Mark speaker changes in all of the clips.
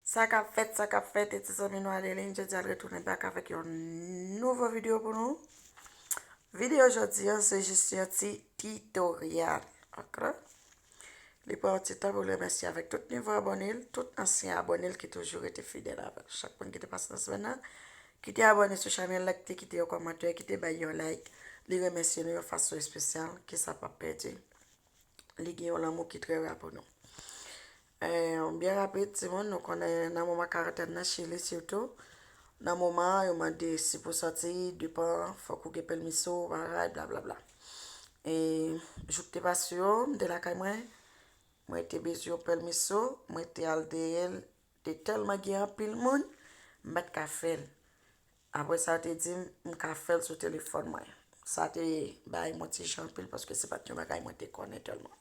Speaker 1: Sa kap fèt sa kap fèt e ti zanmi nou Adeline jodi a l retounen back avèk yon nouvo video pou nou video jodi an se jis yon ti titoryal ok li pran yon ti tan pou l remèsye avèk tout nouvo abòne l tout ansyen abòne l ki toujou rete fidèl avè l chak moun ki te pase nan semèn nan ki te abòne sou chanèl la ki te kite yon kòmantè ki te bay yon like li remèsye nou yon fason espesyal ke sa pap pèdi li gen yon lanmou ki trè ra pou nou Yon byen rapid timoun, nou konnen nan moman karantèn nan chili sitou, nan moman an yo mande si pou sòti depan fòk ou gen pelmiso bagay bla bla bla. E jou k te pase yo, m te lakay mwen, mwen te bezwen yon pelmiso, mwen te al dèyè l, te tèlman gen anpil moun, m pa t ka fè l. Apre sa yo te di m, m ka fè l sou telefòn mwen. Sa te bay mwen ti jan anpil paske se pa t yon bagay mwen te konnen tèlman.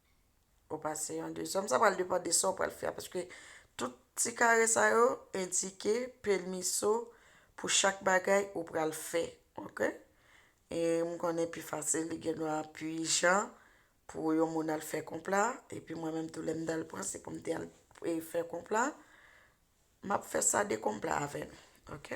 Speaker 1: Ou pase yon dezyèm. Sa pral depan de sa ou pral fè a. Paske tout ti kare sa yo endike pèmiso pou chak bagay ou pral fè. Ok? E m konnen pi fasil li gen dwa pi ijan pou yon moun al fè konp la. E pi mwen menm tou lè m dal pran se pou m te al fè konp la. M ap fè sa de konp la avè nou. Ok?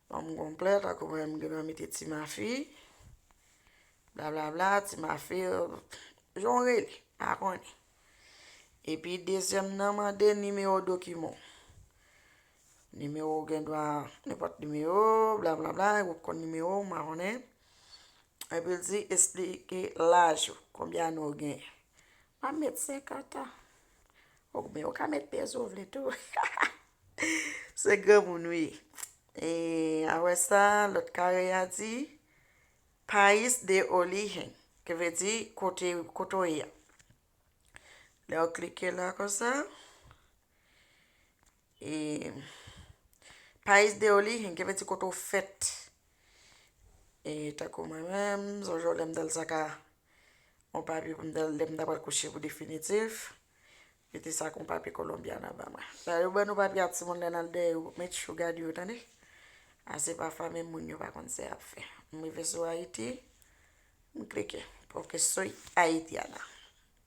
Speaker 1: Banm konplèt ak ou menm gendwa mete ti mafi blablabla ti mafi jan w rele pa konnen epi dezyèm nan mande nimewo dokiman w nimewo w gendwa nenpòt nimewo blablabla ou p konn nimewo w pa konnen epi l di esplike laj ou konbyen ane w genyen Map met 50 an. Ok men ou ka met pyès ou vle tou. Se granmoun wi. E a wè sa lòt kare a di. Pais de origen. Ki vle di kote ou ye a. Lè ou klike la konsa. E Pais de origem ki vle di kote w fèt. E tankou mwen menm, son jou lè m te al sa ka yon papye pou m te al lè m ta pral kouche pou definitif. Mete sa kon papye kolonbyan anba mwen. Sa yo ban nou papye a timoun lè n al dèyè yo, met chou gade yo tande. A se pa fanmi moun yo pa konn sa y ap fè. M rive sou Ayiti, m klike. Pwòf ke soy Ayitiana.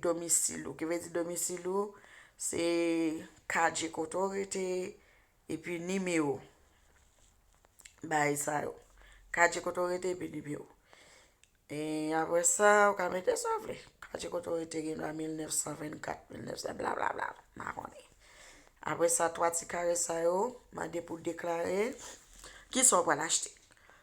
Speaker 1: domisil ou, ki vle di domisil ou se kadje kote ou rete epi nimewo bagay sa yo. Kadje kote ou rete epi nimewo. E apre sa, ou ka mete sa ou vle. Kadje kote ou rete gen dwa 1924, 1900 bla bla bla, m pa konnen. Apre sa, 3 ti kare sa yo, mande pou deklare ki sa ou pral achte.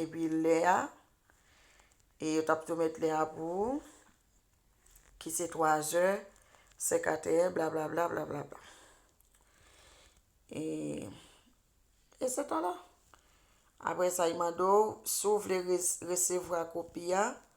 Speaker 1: Epi lè a, e yo t ap tou met lè a pou ou, ki se twazè, senkateyè, blablabla, blablabla. E, e se ta la. Apre sa, y mande ou, si ou vle resevwa kopi a.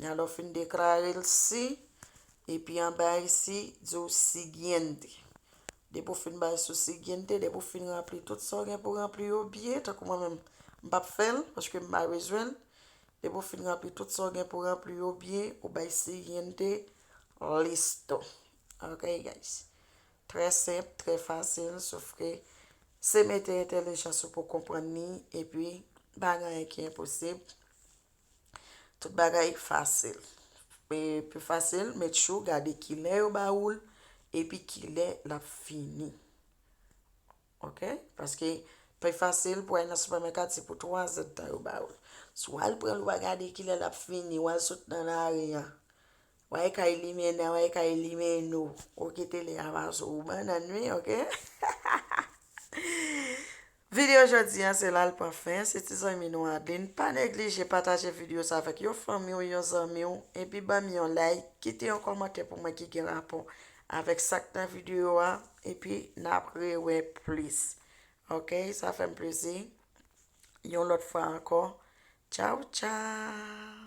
Speaker 1: Nan lè w fin deklare l si, epi anba isi, di w Siguiente. Depi w fin bay sou Siguiente, depi w fin ranpli tout sa w gen pou ranpli yo byen, tankou mwen menm, m pa p fè l, paske m pa bezwen l. Depi w fin ranpli tout sa w gen pou ranpli yo byen, ou bay Siguiente, listo. Ok guys. Trè senp, trè fasil, sof ke se mete entelijans ou pou w konprann li, epi pa gen anyen ki enposib. Tout bagay fasil. E pi fasil, met chou, gade kilè yo ba ou l, epi kilè l ap fini. Ok? Paske, pi fasil pou al nan sipèmèkat se pou 3 zèdtan yo ba ou l. Si w al pran l, w a gade kilè l ap fini, w al sot nan lari a. W a e ka elimine, w a e ka elimine ou. Ou kite li a pa sou ou. Bannann wi, ok? Video jodi an se la l pran fen, se ti zanmi nou Adeline, pa neglije pataje video sa avèk yon fanmi w, yon zanmi w, epi ban m yon like, kite yon kòmantè pou mwen ki gen rapò avèk sa k nan video a, epi n ap rewè plis ok, sa fè m plezi, yon lòt fwa ankò, tchaww tchaww.